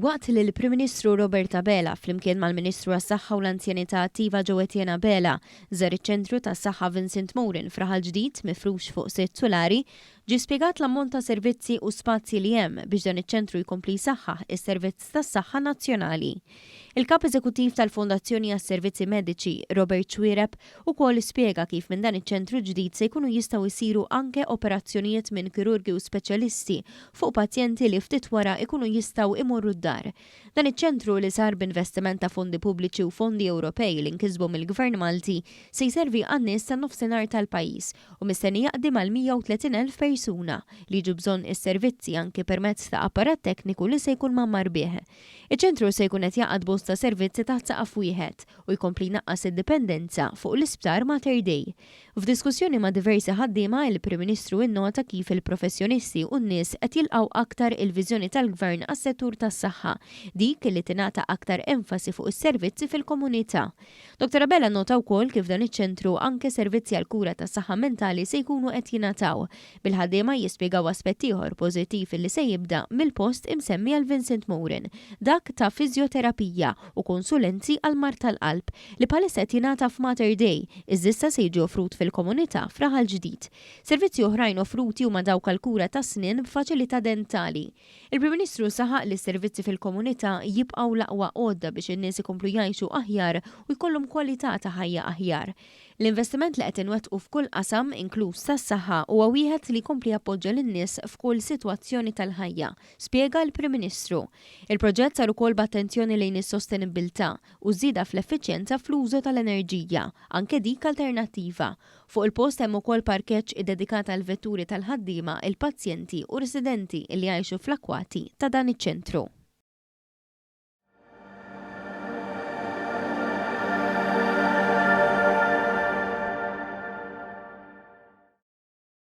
Waqt li l-Prim Ministru Robert Abela flimkien mal-Ministru għas-Saħħa u l-Anzjanità Attiva Ġowetjen Abela żar iċ-Ċentru tas-Saħħa Vincent Morin fraħal ġdid mifrux fuq sitt sulari, Ġie spjegat l-ammont ta' servizzi u spazji li hemm biex dan iċ-ċentru jkompli jsaħħaħ is-servizz tas-saħħa nazzjonali. Il-Kap Eżekuttiv tal-Fondazzjoni għas-Servizzi Mediċi, Robert Xuereb, ukoll spjega kif minn dan iċ-ċentru ġdid se jkunu jistgħu jsiru anke operazzjonijiet minn kirurgi u speċjalisti fuq pazjenti li ftit wara jkunu jistgħu jmorru d-dar. Dan iċ-ċentru li sar b'investiment ta' fondi pubbliċi u fondi Ewropej li nkisbu mill-Gvern Malti se jservi għan-nies tan-Nofsinhar tal-pajjiż u mistenni jaqdi mal-130,000 persuna li jiġu bżonn is-servizzi anki permezz ta' apparat tekniku li se jkun mgħammar bih. Iċ-ċentru se jkun qed jgħaqqad bosta servizzi taħt saqaf wieħed u jkompli jnaqqas id-dipendenza fuq l-Isptar Mater Dei. F'diskussjoni ma' diversi ħaddiema, il-Prim Ministru innota kif il-professjonisti u n-nies qed jilqgħu aktar il-viżjoni tal-Gvern għas-settur tas-saħħa, dik li tingħata aktar enfasi fuq is-servizzi fil-komunità. Dottor Abela nnota wkoll kif f'dan iċ-ċentru anke servizzi għall-kura tas-saħħa mentali se jkunu qed jingħataw, bil-ħaddiema jispjegaw aspett ieħor pożittiv li se jibda mill-post imsemmi għal Vincent Morin, dak ta' fiżjoterapija u konsulenzi għall-mard tal-qalb, li bħalissa qed jingħata f'Mater Dei, iżda issa se jiġi offrut fil-komunità f'Raħal Ġdid. Servizzi oħrajn offruti huma dawk għall-kura tas-snien b'faċilità dentali. Il-Prim Ministru saħaq li s-servizzi fil-komunità jibqgħu l-aqwa għodda biex in-nies ikomplu jgħixu aħjar u jkollhom kwalità ta' ħajja aħjar. L-investiment li qed inwettqu f'kull qasam, inkluż tas-saħħa, huwa wieħed li jkompli jappoġġa lin-nies f'kull sitwazzjoni tal-ħajja, spjega l-Prim Ministru. Il-proġett sar ukoll b'attenzjoni lejn is-sostenibbiltà u ż-żieda fl-effiċjenza fl-użu tal-enerġija, anke dik alternattiva, Fuq il-post hemm ukoll parkeġġ iddedikat għall-vetturi tal-ħaddiema, il-pazjenti u residenti li jgħixu fl-akwati ta' dan iċ-ċentru.